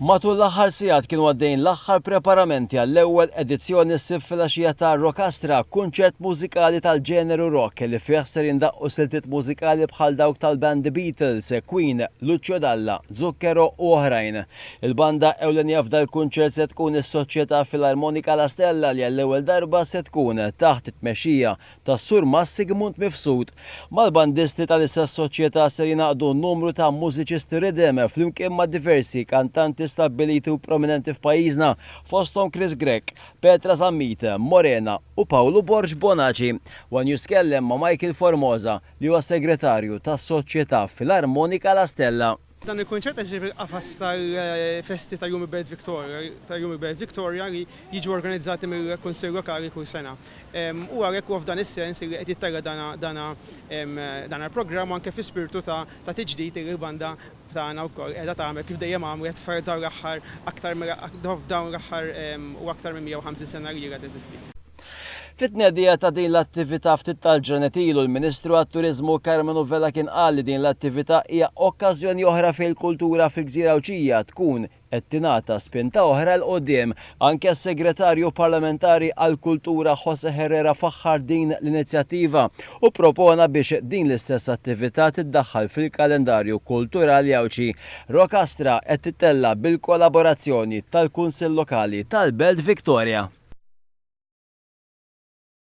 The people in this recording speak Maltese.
Matul l-aħħar sigħat kienu għaddejjin l-aħħar preparamenti għall-ewwel edizzjoni s-Sibt filgħaxija ta' Rockastra, kunċert mużikali tal-ġeneru rock li fih ser jindaqqu siltiet mużikali bħal dawk tal-band The Beatles, Queen, Lucio Dalla, Zucchero u oħrajn. Il-banda ewlenija f'dal-kunċert se tkun is-Soċjetà Filarmonika La Stella li għall-ewwel darba se tkun taħt it-tmexxija tas-Sur Mas Sigmund Mifsud. Mal-bandisti tal-istess soċjetà ser jingħaqdu numru ta' mużiċisti riddim, flimkien ma' diversi kantanti stabbiliti u prominenti f'pajjiżna, fosthom Chris Grech, Petra Zammit, Morena u Pawlu Borg Bonaci. One News tkellem ma' Michael Formosa, li huwa segretarju tas-Soċjetà Filarmonika La Stella. Dan il-kunċett qed isir fil-qafas tal-festi ta' Jum il-Belt Victoria li jiġu organizzati mill-Kunsill Lokali kull sena. U għalhekk huwa f'dan is-sens li qed jitterra dan il-programm u anke fi spirtu ta' tiġdid li l-banda tagħna wkoll qiegħda tagħmel kif dejjem għamlet f'dawn l-aħħar aktar f'dawn l-aħħar u aktar minn 150 sena li ilha teżisti. Fit-tnedija ta' din l-attività ftit tal-ġranet ilu l-Ministru għat-Turiżmu Karmenu Vella kien qal li din l-attività hija okkażjoni oħra fejn il-kultura fi Gżira Għawdxija tkun qed tingħata spinta oħra 'l quddiem. Anke s-Segretarju Parlamentari għall-Kultura Jose Herrera faħħar din l-inizjattiva u ppropona biex din l-istess attività tiddaħħal fil-kalendarju kulturali Għawdxi Rocastra qed tittella' bil-kollaborazzjoni tal-Kunsill Lokali tal-Belt Victoria.